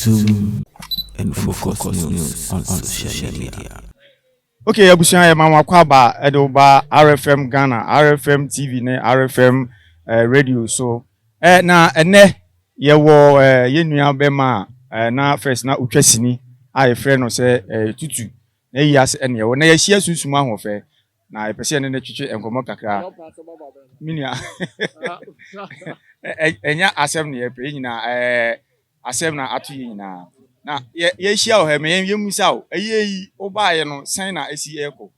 Zoom and focus news on social media. Okay, abusua yɛ ma wɔn akɔ aba ɛde wo ba RFM Ghana, RFM TV ne RFM eh, radio so. Eh, na ɛnɛ yɛwɔ eh, yɛn nua bɛma a eh, na first na otwa sini a yɛfrɛ no sɛ eh, tutu. Na eyi ase ne ɛwɔ. Na yɛahyia sunsum ahoɔfɛ, na yɛpɛ sɛ yɛne no twetwe nkɔmmɔ kakra. Me nua, ɛnyɛ asɛm na yɛpɛ, yɛn nyinaa, ɛɛ, asɛm na ato yɛn nyinaa. Na yɛ, yɛahyia wɔ ha, ma yɛn, yɛmmisa wo, ɛyɛ yi, wobaeɛ no, sɛn na esi ɛrekɔ?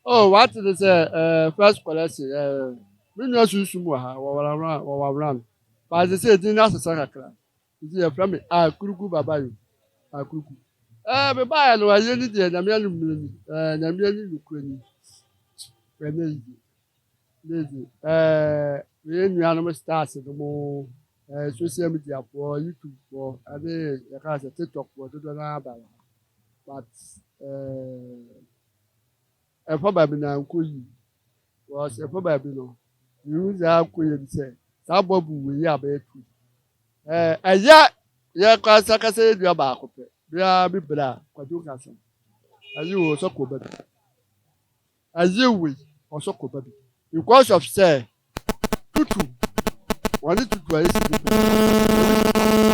Oh, wate ne sɛ, ɛɛ, First Collection, ɛɛ, me nua sunsum wɔ ha, wɔwɔra, wɔwɔra no, but ɛsɛ sɛ yɛgyina no asesa kakra. Nti yɛfrɛ me Akuruku Babayo, Akuruku. Ɛɛ, mebaeɛ no ayie ni deɛ Nyame anim mmerɛ ni, ɛɛ, Nyame anim nokorɛ ni. Ɛnɛ yi deɛ, ɛnɛ yi deɛ, ɛɛ, me yɛn nuanom stars no mo, ɛɛ, social media foɔ, YouTube foɔ, ɛne yɛka sɛ TikTok foɔ dodoɔ no ara ba wɔ ha. But, ɛɛ. Ɛfa baabi na nkɔ yi wɔ sɛ ɛfa baabi no yiwu za akɔ yɛ bi sɛ saa bɔ bu wɔ yi abɛyɛ tu ɛɛ ɛyɛ yɛ kɔ asa kasa yɛ dua baako pɛ bia bi bra kwadwo kasa ayi wɔ sɔ kɔ baabi ayi wɔ yi ɔsɔ kɔ baabi because of sɛ tutu wɔn ne tutu ayɛ si bi pɛ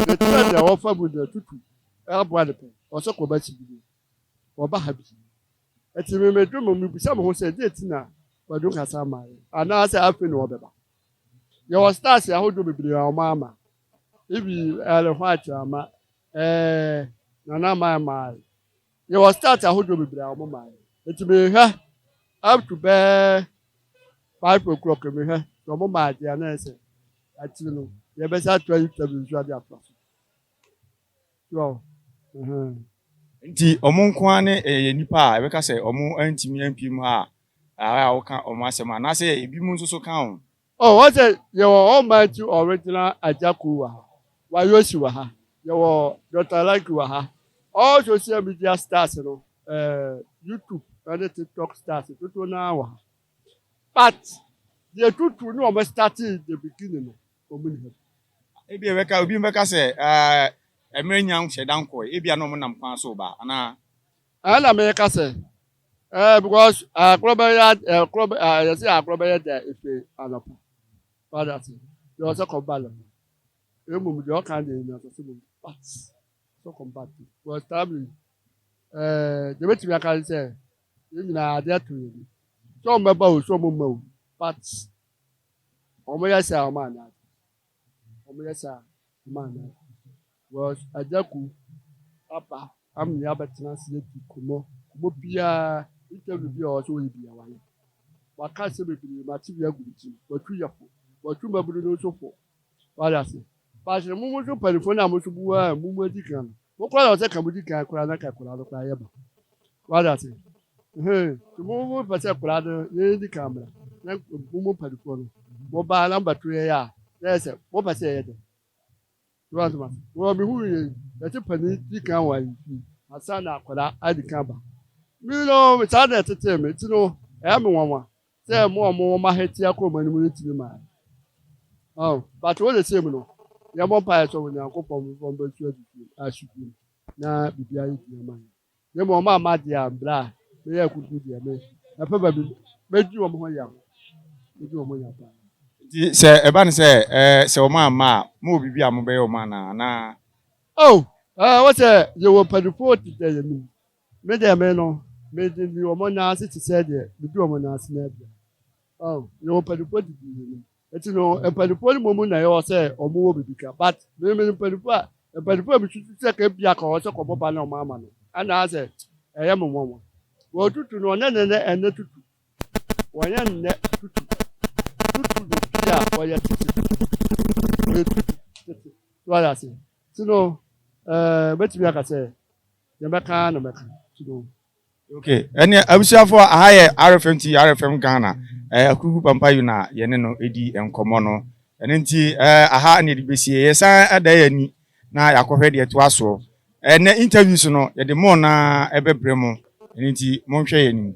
ne tena deɛ wɔfa bu deɛ tutu ɛboa ne pɛ ɔsɔ kɔ baabi si bi wɔba ha bi. Enti mimedwo mu, mibisa me ho sɛ, dɛn nti na Kwadu nkasa ama yɛn? Anaasɛ afei na wɔbɛba? Yɛwɔ stars ahodoɔ bebree a wɔama. Ibi Ellen White ama, ɛɛ, Nana Mae mae. Yɛwɔ stars ahodoɔ bebree a wɔma yɛn. Enti mehwɛ up to bɛɛ five o'clock mehwɛ sɛ wɔma adeɛ a na ɛsɛ akyiri no yɛbɛsa atoa interview nso ade atoa so. Nti ɔmo nko ara ne ɛyɛ nnipa a ɛbɛka sɛ ɔmo antumi ampue mu ha a a woka ɔmo asɛm anaasɛ ebinom nso so ka ho? Oh, ɔsɛ yɛwɔ almighty original Agyako wɔ ha, Wayoshi wɔ ha, yɛwɔ Doctor Lanky wɔ ha, all social media stars no, eh, YouTube ne TikTok stars dodoɔ no ara wɔ ha. But deɛ tutu ne ɔmo startee in the beginning no, Ebia ɛbɛka, obi bɛka sɛ, Ɛɛ, mmerɛ nnya nhyɛ da nkɔɔe. Ebia na wɔnam kwan so reba, anaa? Ɛna meka sɛ, Ɛɛ, because ɛkorɔ bɛyɛ, ɛkorɔ, ɛɛ, yɛsi ɛkorɔ bɛyɛ dɛ efi anɔpa. Wade ase? Deɛ ɔsɛ kɔm ba lɛmɔ. Emom deɛ ɔka deɛ nyina sɛ sɛ mom bat. Sɛ kɔm bat. Because tabli, ɛɛ, deɛ bɛtumi aka ne sɛ, yɛn nyinaa adeɛ to yɛn. Sɛ wɔn bɛba o, sɛ wɔn mma o, bat. Wɔn yɛ saa wɔn ana wɔn yɛ saa wɔn ana wɔs agyaku apa amia abɛtena ase edi kumɔ kumɔ biara interview bi a wɔsɛ wɔyɛ bi a wɔayɛ waka asɛm bebree ma ati bi agu ne ti wɔtwi yɛ fo wɔtwi mmabunu no nso fo wɔayɛ ase baasi na mo mo nso mpanimfoɔ no a mo nso bu a mo mu adi kan no Mo koraa na ɔsɛ ka mo di kan koraa na ka koraa no koraa yɛ ba. Wada ase. Ɛhɛn, ti mo mo pɛ sɛ koraa no yɛn di kan mra na mo mo mpanyinfoɔ no mo ba na mo bɛ to yɛn a na yɛ sɛ mo pɛ sɛ yɛyɛ dɛ. Ti wa ntoma se. Wɔ mi hu yɛn yɛ ti panin di kan wɔ ayi fi asa na akɔda adi kan ba. Mi no saa na ɛtetee mi ti no ɛyɛ mi nwanwa Sɛ mo a mowɔ mo ahetia kɔ mo anim no tumi ma a, ɔn, but wo de sei mu no, yɛmmɔ mpaeɛ sɛ Onyankopɔn bɛma mo bɛsu adi bio, asu bio, na biribi ayɛ dua ma yɛn. Na mmom ɔma ama deɛ a, mbrɛ a, meyɛ akuku deɛ, me, ɛpɛ baabi, mɛdi wɔn ho yaw, mɛdi wɔn ho yaw paa. Nti sɛ ɛba no sɛ, ɛɛ, sɛ wɔn amma a, mowɔ biribi a mobɛyɛ wɔn anaa, anaa? Oh, ɛɛ, wɔ sɛ yɛwɔ mpaninfoɔ te sɛ yɛn no mu, Me deɛ me no, me de me wɔn nan ase te sɛ deɛ medi wɔn nan ase no aduane. Oh, yɛwɔ mpanimfoɔ didi yɛn nim. Eti no, mpanimfoɔ no mmom na ɛwɔ sɛ wɔn wɔ biribi ka. But me me mpanimfoɔ a, mpanimfoɔ a mesusu sɛ ka ebia ka wɔn sɛ kɔbɔ ba na wɔn ama no. Anaasɛ ɛyɛ me nwanwa. Wɔn tutu no, ɔnɛ nɛnɛ ɛnɛ tutu. Wɔnyɛ nnɛ tutu. Tutu no bi a wɔyɛ tete. Wɔyɛ tutu tete. So ayɛ ase. Ti no, ɛɛ, mɛtumi aka sɛ. Yɛbɛka na bɛka to go. Okay, ɛneɛ abusuafoɔ aha yɛ RFM TV, RFM Ghana, eh, Akurugu Pampa Yu na yɛne no ɛdi nkɔmmɔ no. Ɛno nti eh, aha ne yɛde bɛsie, yɛsan ɛda yɛ ani na yɛakɔhwɛ deɛ ɛtoa soɔ. Ɛnɛ interviews no yɛde mo na ɛbɛbrɛ mo, ɛno nti monhwɛ yɛ anim.